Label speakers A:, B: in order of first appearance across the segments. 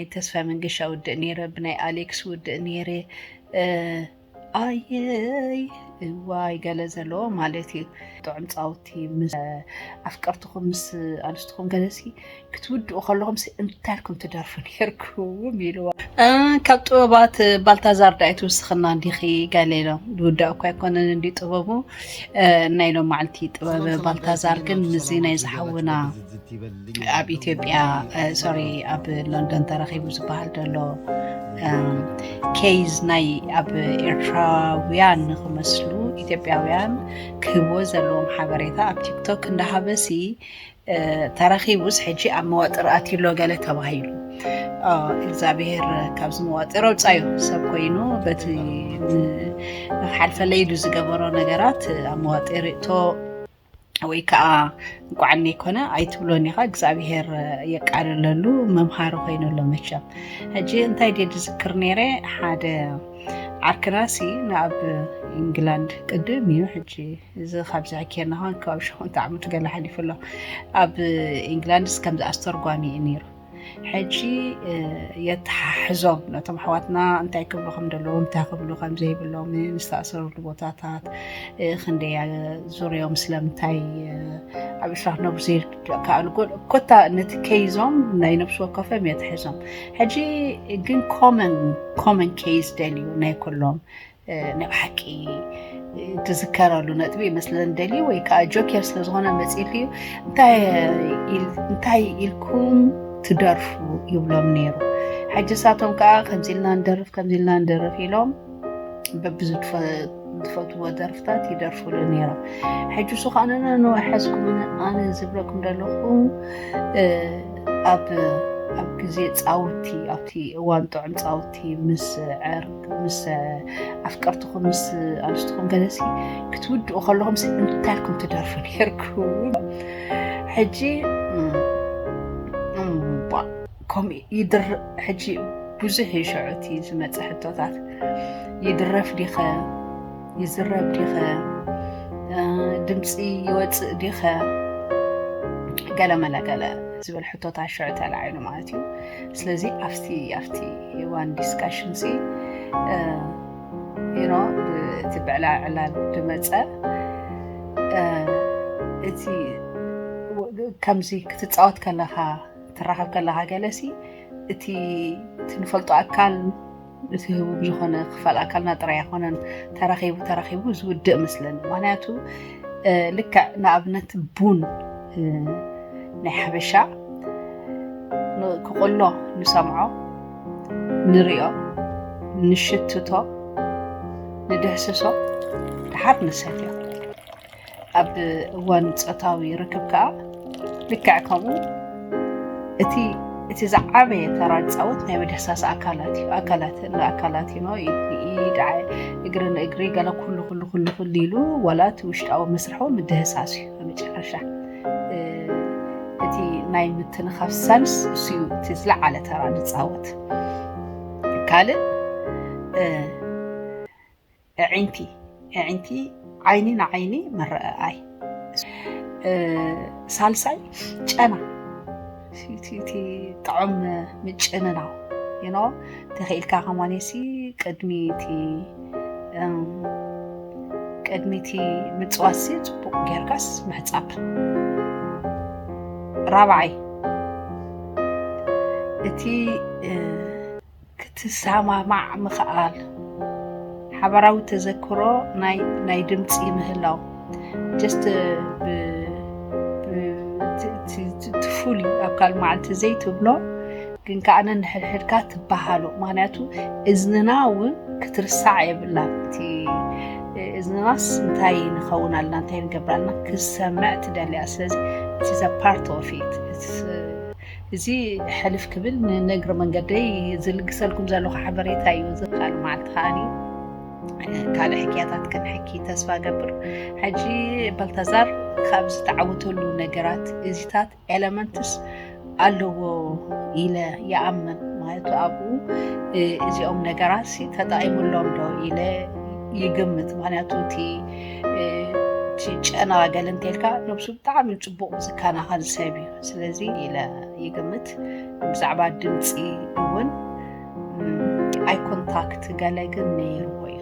A: ናይ ተስፋይ መንገሻ ውድእ ነይረ ብናይ ኣሌክስ ውድእ ነይረ ኣየይ እዋይ ገለ ዘለዎ ማለት እዩ ጥዑም ፃውቲ ኣፍቀርትኹም ምስ ኣንስትኹም ገለሲ ክትውድኡ ከለኹም እንታይ ኢልኩም ትደርፉ ነርኩም ኢልዋ ካብ ጥበባት ባልታዛር ዳኣይ ትውስኽና እንዲኺ ገለ ኢሎም ዝውዳእ እኳ ኣይኮነን እንዲ ጥበቡ ናይ ሎም መዓልቲ ጥበብ ባልታዛር ግን ምዚ ናይ ዝሓውና ኣብ ኢትዮጵያ ሶሪ ኣብ ሎንዶን ተረኺቡ ዝበሃል ዘሎ ኬዝ ናይ ኣብ ኤርትራውያን ንክመስሉ ኢትዮጵያውያን ክህብዎ ዘለዎም ሓበሬታ ኣብ ቲክቶክ እንዳሃበሲ ተረኺቡስ ሕጂ ኣብ መዋጥር ኣትሎ ገለ ተባሂሉ እግዚኣብሄር ካብዚ መዋጥር ኣውፃዩ ሰብ ኮይኑ በቲ ንክሓልፈለይ ኢሉ ዝገበሮ ነገራት ኣብ መዋጢር እቶ ወይ ከዓ እንቋዕ ዘይኮነ ኣይትብሎን ኢኻ እግዚኣብሄር የቃልለሉ መምሃሪ ኮይኑሎ መቸም ሕጂ እንታይ ድየ ዝዝክር ነይረ ሓደ ዓርክናሲ ናብ ኢንግላንድ ቅድም እዩ ሕጂ እዚ ካብዚ ሕኬና ን ከባቢ ሸሞንተ ዓመት ገለ ሓሊፉ ኣሎ ኣብ ኢንግላንድስ ከምዚ ኣስተርጓሚ እዩ ነይሩ ሕጂ የተሓሕዞም ነቶም ኣሕዋትና እንታይ ክብሉ ከም ዘለዎም እንታይ ክብሉ ከም ዘይብሎም ዝተኣሰረሉ ቦታታት ክንደይ ዙርዮም ስለምንታይ ኣብ ኤርትራ ክነብሩ ዘይከኣሉ ኮታ ነቲ ከይዞም ናይ ነብሲ ወከፎም የተሕዞም ሕጂ ግን ኮመን ኮመን ኬዝ ደልዩ ናይ ኩሎም ናይ ብሓቂ ትዝከረሉ ነጥቢ ይመስለን ደሊ ወይ ከዓ ጆኬር ስለዝኾነ መፅኢት እዩ እንታይ ኢልኩም ትደርፉ ይብሎም ነይሩ ሕጂ ሳቶም ከዓ ከምዚ ኢልና ንደርፍ ከምዚ ኢልና ንደርፍ ኢሎም በብዚ ዝፈትዎ ደርፍታት ይደርፍሉ ነይሮም ሕጂ እሱ ከዓ ንወሓዝኩም ኣነ ዝብለኩም ዘለኹ ኣብ ግዜ ፃውቲ ኣብቲ እዋን ጥዑም ፃውቲ እቲ ምስ ዕርክ ምስ ኣፍቀርትኹም ምስ ኣንስትኹም ገለሲ ክትውድኡ ከለኹም እንታይ ኢልኩም ትደርፉ ነርኩም ሕጂ ከምኡ ይድር ሕጂ ብዙሕ እዩ ሸዑ እቲ ዝመፀ ሕቶታት ይድረፍ ዲኸ ይዝረብ ዲኸ ድምፂ ይወፅእ ዲኸ ገለ መለ ገለ ዝብል ሕቶታት ሸዑ ተላዒሉ ማለት እዩ ስለዚ ኣብቲ ኣብቲ ዋን ዲስካሽን ሲ ዩኖ እቲ ብዕላ ዕላል ድመፀ እቲ ከምዚ ክትፃወት ከለካ ትራኸብ ከለካ ገለሲ እቲ ትንፈልጦ ኣካል እቲ ህቡብ ዝኾነ ክፋል ኣካልና ጥራይ ኣይኮነን ተራኺቡ ተራኺቡ ዝውድእ ምስለን ምክንያቱ ልክዕ ንኣብነት ቡን ናይ ሓበሻ ክቕሎ ንሰምዖ ንሪኦ ንሽትቶ ንድሕስሶ ድሓር ንሰትዮ ኣብ እዋን ፆታዊ ርክብ ከዓ ልክዕ ከምኡ እቲ እቲ ዝዓበየ ተራ ዝፃወት ናይ ምድህሳስ ኣካላት እዩ ኣካላት ንኣካላት ኖ ኢድ እግሪ ንእግሪ ገለ ኩሉ ኩሉ ኩሉ ኩሉ ኢሉ ዋላ እቲ ውሽጣዊ መስርሑ ምድህሳስ እዩ መጨረሻ እቲ ናይ ምትንኻፍ ሰንስ እሱ እዩ እቲ ዝለዓለ ተራ ዝፃወት ካልእ ኣዒንቲ ኣዒንቲ ዓይኒ ንዓይኒ ምርኣኣይ ሳልሳይ ጨና እቲ ጥዑም ምጭንናው ይኖ ተኽኢልካ ከማኔሲ ቅድሚ እቲ ቅድሚ እቲ ምፅዋሲ ፅቡቅ ጌርካስ ምሕፃብ ራብዓይ እቲ ክትሰማማዕ ምኽኣል፣ ሓባራዊ ተዘክሮ ናይ ናይ ድምጺ ምህላው just ብ ትፉሊ ኣብ ካልእ መዓልቲ ዘይትብሎ ግን ከዓ ነንሕድሕድካ ትበሃሉ ምክንያቱ እዝንና እውን ክትርሳዕ የብላን እቲ እዝንናስ እንታይ ንኸውን ኣለና እንታይ ንገብር ኣለና ክሰምዕ ትደልያ ስለዚ ኢትስ ፓርት ኦፍ ኢት እዚ ሕልፍ ክብል ንእግረ መንገደይ ዝልግሰልኩም ዘለኹ ሓበሬታ እዩ። እዚ ካልእ መዓልቲ ከዓኒ ካልእ ሕክያታት ክንሕኪ ተስፋ ገብር። ሕጂ ባልታዛር ካብ ዝተዓወተሉ ነገራት እዚታት ኤለመንትስ ኣለዎ ኢለ ይኣምን ማለት ኣብኡ እዚኦም ነገራት ተጠቒሙሎም ዶ ኢለ ይግምት ምክንያቱ እቲ ጨና ገለ እንተልካ ነብሱ ብጣዕሚ ፅቡቕ ዝከናኸን ሰብ እዩ ስለዚ ኢለ ይግምት ብዛዕባ ድምፂ እውን ኣይ ኮንታክት ገለ ግን ነይርዎ እዩ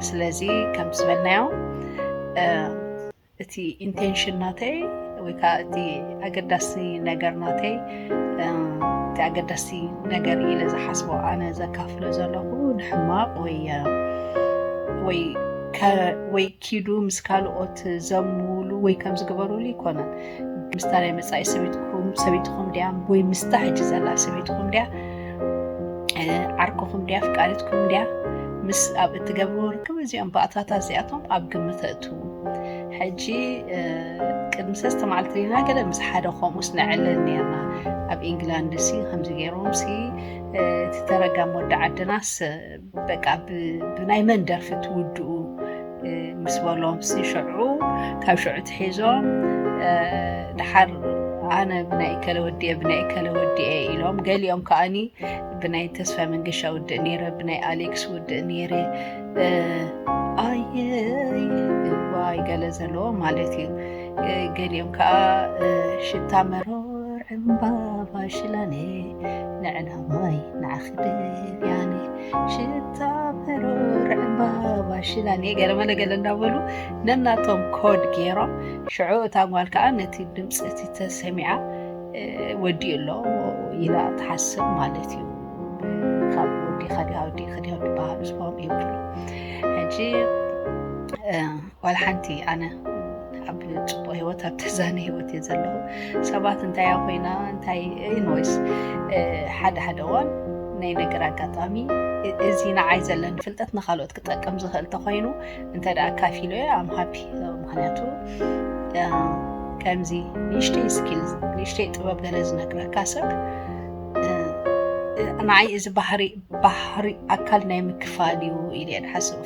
A: ስለዚ ከም ዝበልናዮ እቲ ኢንቴንሽን ናተይ ወይ ከዓ እቲ ኣገዳሲ ነገር ናተይ እቲ ኣገዳሲ ነገር ኢለ ዝሓስቦ ኣነ ዘካፍሎ ዘለኹ ንሕማቅ ወይ ወይ ወይ ኪዱ ምስ ካልኦት ዘምሉ ወይ ከም ዝግበሩሉ ይኮነን ምስታ ናይ መፃኢ ሰበይትኩም ሰበይትኹም ድያ ወይ ምስታ ሕጂ ዘላ ሰበይትኹም ድያ ዓርኩኹም ድያ ፍቃድትኩም ድያ ምስ ኣብ እትገብርዎ ርክብ እዚኦም ባእታታ እዚኣቶም ኣብ ግምት እእትዉ ሕጂ ቅድሚ ሰለስተ መዓልቲ ሪና ገለ ምስ ሓደ ከምኡስ ንዕልል ነርና ኣብ ኢንግላንድ ሲ ከምዚ ገይሮም ሲ እቲ ተረጋም ወዲ ዓድናስ በቃ ብናይ መን ደርፊ ትውድኡ ምስ በሎም ሽዑ ካብ ሽዑ ትሒዞም ድሓር ኣነ ብናይ እከለ ወዲኤ ብናይ እከለ ወዲኤ ኢሎም ገሊኦም ከዓኒ ብናይ ተስፋ መንገሻ ውድእ ነይረ ብናይ ኣሌክስ ውድእ ነይረ ኣየዋይ ገለ ዘለዎ ማለት እዩ ገሊኦም ከዓ ሽታ መሮር ዕምባባ ሽላኔ ንዕላማይ ንዓኺ ደልያኒ ሽታ መሮር ዕምባባ ሽላን ገለመ ነገለ እንዳበሉ ነናቶም ኮድ ገይሮም ሽዑ እታ ጓል ከዓ ነቲ ድምፂ እቲ ተሰሚዓ ወዲኡ ኣሎ ኢላ ትሓስብ ማለት እዩ ካብ ወዲኻ ዲያ ወዲእኺ ዲያ በሃሉ ዝባሉ ይብሉ ሕጂ ዋላ ሓንቲ ኣነ ኣብ ፅቡቅ ሂወት ኣብ ተዛነ ሂወት እየ ዘለኹ ሰባት እንታይ እያ ኮይና እንታይ ኢንወይስ ሓደ ሓደ እዋን ናይ ነገር ኣጋጣሚ እዚ ንዓይ ዘለኒ ፍልጠት ንካልኦት ክጠቅም ዝኽእል ተኮይኑ እንተ ደኣ ካፊሎ እየ ኣም ሃፒ ምክንያቱ ከምዚ ንእሽተይ ስኪል ንእሽተይ ጥበብ ገለ ዝነግረካ ሰብ ንዓይ እዚ ባህሪ ባህሪ ኣካል ናይ ምክፋል እዩ ኢለ እየ ዝሓስብ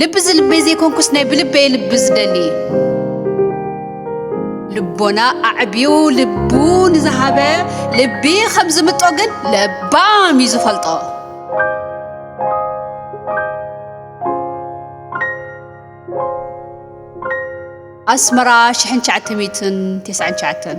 A: ልቢ ዝልበይ ዘይኮንኩስ ናይ ብልበይ ልቢ ዝደሊ ልቦና ኣዕብዩ ልቡ ንዝሃበ ልቢ ከም ዝምጦ ግን ለባም እዩ ዝፈልጦ ኣስመራ ሽሕን ትሽዓተ ሚእትን ትስዓን ትሽዓተን